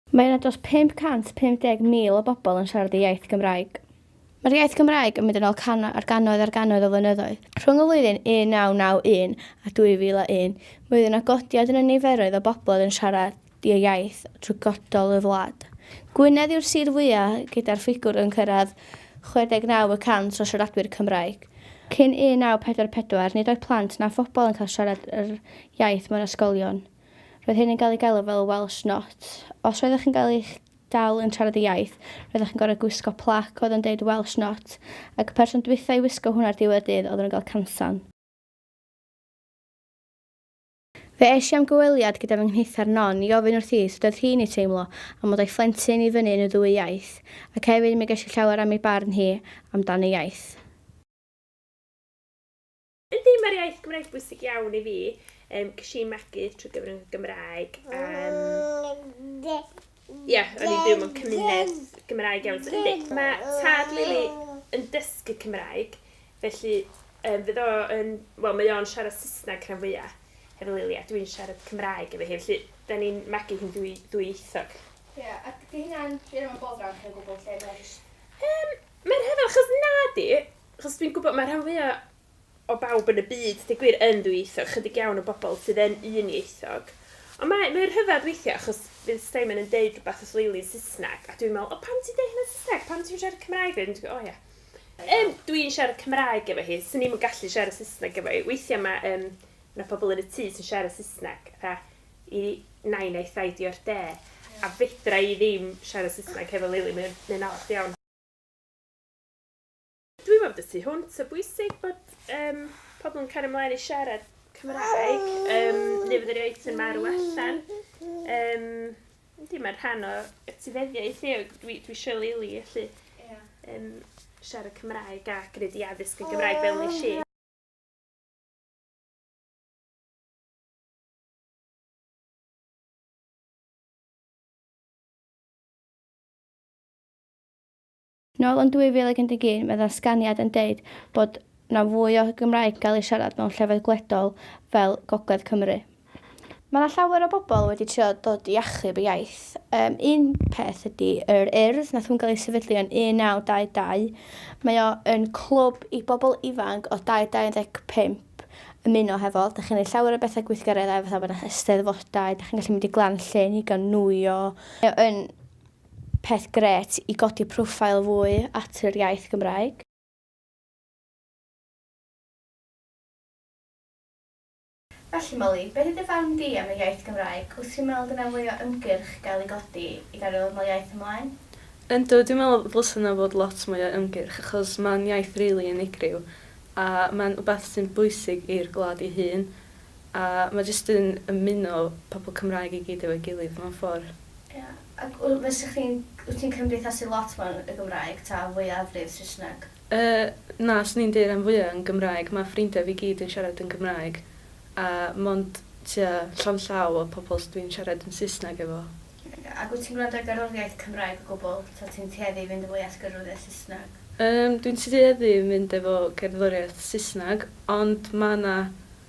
Mae yna dros 550,000 o bobl yn siarad y iaith Gymraeg. Mae'r iaith Gymraeg yn mynd yn ôl cannoedd ar gannoedd ar gannoedd o flynyddoedd. Rhwng y flwyddyn 1991 a 2001, mi oedd yna godiad yn y niferoedd o bobl oedd yn siarad. ddiaith trwy godol y wlad. Gwynedd yw'r sir fwyaf gyda'r ffigwr yn cyrraedd 69 y cant o siaradwyr Cymraeg. Cyn 1944, nid oedd plant na phobl yn cael siarad yr iaith mewn ysgolion. Roedd hyn yn cael ei galw fel Welsh Not. Os roeddech chi'n cael eich dal yn siarad y iaith, roeddech chi'n gorfod gwisgo plac oedd yn deud Welsh Not, ac y person dwytha i wisgo hwn ar ddiwedd y dydd oedden nhw'n cael cansan. Fe es i am gyfweliad gyda fy nghnithar Non i ofyn wrthi sut oedd hi'n ei teimlo am fod â'i phlentyn i fyny yn y ddwy iaith, ac hefyd mi ges i llawer am ei barn hi am dan y iaith. Yndi, mae'r iaith Gymraeg bwysig iawn i fi. Ges i magu trwy gyfrwng y Gymraeg. Ie, o'n i'n byw mewn cymuned Gymraeg iawn. So, yndi, mae tad Lili yn dysgu Cymraeg, felly um, fydd o yn... Wel, mae o'n siarad Saesneg rhan fwyaf hefo Lili, a dwi'n siarad Cymraeg efo hi, felly da ni'n magu hi'n dwy, ddwyieithog. Ie, yeah, ac di hynna'n rhywun o'n bod rhan chi'n gwybod lle mae'n just... Um, mae'n rhyfedd, achos na di, achos dwi'n gwybod mae rhan fwyaf o bawb yn y byd, deu gwir, yn ddwyieithog, chydig iawn o bobl sydd yn unieithog. Ond mae, mae rhyfedd weithiau, achos fydd Simon yn deud rhywbeth wrth Leili'n Saesneg, a dwi'n meddwl, o pam ti'n deud hynna'n Saesneg, pam ti'n siarad Cymraeg fe? Dwi'n o ia. Um, dwi'n siarad Cymraeg efo hi, sy'n ni'n gallu siarad Saesneg efo hi. Weithiau mae, um, yna pobl yn y tŷ sy'n siarad Saesneg, a i nain a'i thai di o'r de, a fedra i ddim siarad Saesneg hefo Leili, mae'n, mae'n anodd iawn. Dwi mewn dy tu hwnt, o bwysig bod um, pobl yn cario ymlaen i siarad Cymraeg, um, neu fod yr iaith yn marw allan. Um, Yndi, mae'n rhan o etifeddiaeth ni, dwi, dwi eisiau leili, felly yeah. um, siarad Cymraeg a gwneud i addysg yn Gymraeg fel nes i. Nôl yn 2011 mae ddatganiad yn deud bod 'na fwy o Gymraeg gael ei siarad mewn llefydd gwledol fel Gogledd Cymru. Mae 'na llawer o bobl wedi trio dod i achub y iaith. Yym, un peth ydi yr Urdd, nath hwn gael ei sefydlu yn 1922. Mae o yn clwb i bobl ifanc o 2 i 25 ymuno hefo. Dach chi'n neud llawer o betha gweithgareddau fatha bod 'na Eisteddfodau, dach chi'n gallu mynd i Glan Llŷn i gael nwyo. Mae o yn Peth grêt i godi profile fwy at yr iaith Gymraeg. Felly Molly, beth yw dy farn di am y iaith Gymraeg? Wyt ti'n meddwl dyna fwy o ymgyrch gael ei godi i gario ddod nol iaith ymlaen? Yndw, dwi'n meddwl ddylse yna fod lot mwy o ymgyrch achos mae'n iaith rili unigryw a mae'n wbath sy'n bwysig i'r gwlad ei hun a mae jyst yn ymuno pobl Cymraeg i gyd efo'i gilydd mewn ffordd. Ia. Ac w- fysa chdi'n, wyt ti'n cymdeithasu lot mewn y Gymraeg ta fwyafrif Saesneg? Yy, na, 'swn i'n deu' ran fwya' yn Gymraeg, ma' ffrindia fi gyd yn siarad yn Gymraeg, a mond tua llond llaw o pobol s- dwi'n siarad yn Saesneg efo. Oce, ac wyt ti'n gwrando ar gerddoriaeth Cymraeg o gwbwl, ta ti'n tueddu i fynd yn fwy at gerddoriaeth Saesneg? Yym, dwi'n tueddu i fynd efo cerddoriaeth Saesneg, ond ma' 'na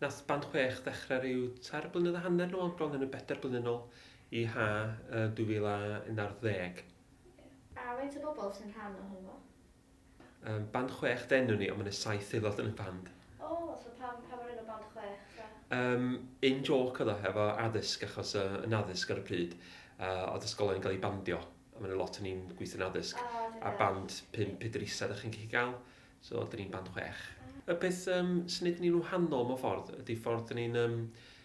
Nath band chwech ddechre ryw tair blynedd a hanner nôl, bron yn y bedair blynedd nôl, i ha' yy 2011. Oce. A faint o bobl sy'n rhan ohono fo? Yym band chwech denw ni ond ma' 'na saith aelod yn y band. O so pam pam yr enw band chwech ta? Yym in joke o'dd o hefo addysg achos yy yn addysg ar y pryd yy o'dd ysgolion yn ga'l eu bandio a ma' 'na lot o'n i'n gweithio'n addysg. O da iawn. A band pump pedr isa 'dach chi'n gallu ga'l So, dyn ni'n band chwech. Y peth um, sy'n neud ni'n wahanol mewn ffordd ydy ffordd dyn ni'n, um,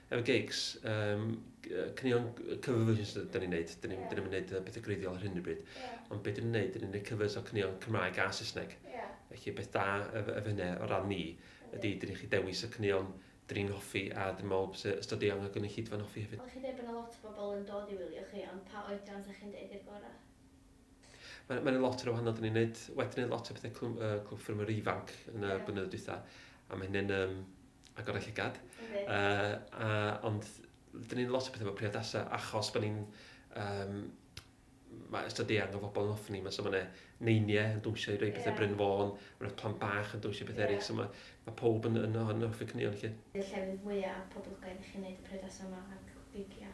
efo gigs, um, cynnion cover versions dyn ni'n neud. Dyn ni'n yeah. ni neud pethau greiddiol ar hyn y bryd. Yeah. Ond beth dyn ni'n neud, dyn ni'n neud covers o cynnion Cymraeg a Saesneg. Yeah. Felly beth da efo ef hynny o ran ni ydy dyn ni'n chi dewis y cynnion dyn ni'n hoffi a dyn ni'n meddwl bod ystod eang o gynulleidfa'n hoffi hefyd. Ond chi'n dweud bod yna lot o bobl yn dod i wylio chi, ond pa oedran sa chi'n dweud i'r gorau? Mae'n ma lot o'r wahanol, dyn ni'n neud, wedi neud lot o pethau clwm, uh, clwb ffermwyr ifanc yn y yeah. blynyddoedd dwytha, a mae hynny'n um, agor eich llygad. Okay. Uh, a, ond dyn ni'n lot o pethau efo priodasau, achos bod ni'n um, mae ystod eang o fobl yn ofni, mae so mae neiniau yn dwysio i roi pethau yeah. Bryn Fôn, mae'n plant bach yn dwysio pethau yeah. eraill, so mae, mae pob yn, yn, yn, yn offi cynnion chi. Y llefydd mwyaf poblogaidd i chi'n neud y priodasau yma a'r gigia?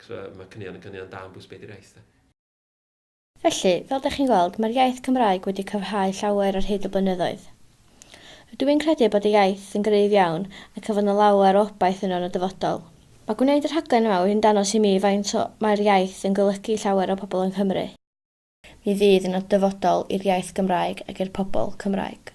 Achos mae caneuon yn caneuon da am bwys beth yw'r iaith de? Felly, fel dych chi'n gweld, mae'r iaith Cymraeg wedi cryfhau llawer ar hyd y blynyddoedd. Rydw i'n credu bod y iaith yn gryf iawn ac y fydd 'na lawer o obaith yno yn y dyfodol. Mae gwneud y rhaglen yma wedi'n dangos i mi faint o mae'r iaith yn golygu i llawer o bobl yng Nghymru. Mi fydd yna dyfodol i'r iaith Gymraeg ac i'r pobl Cymraeg.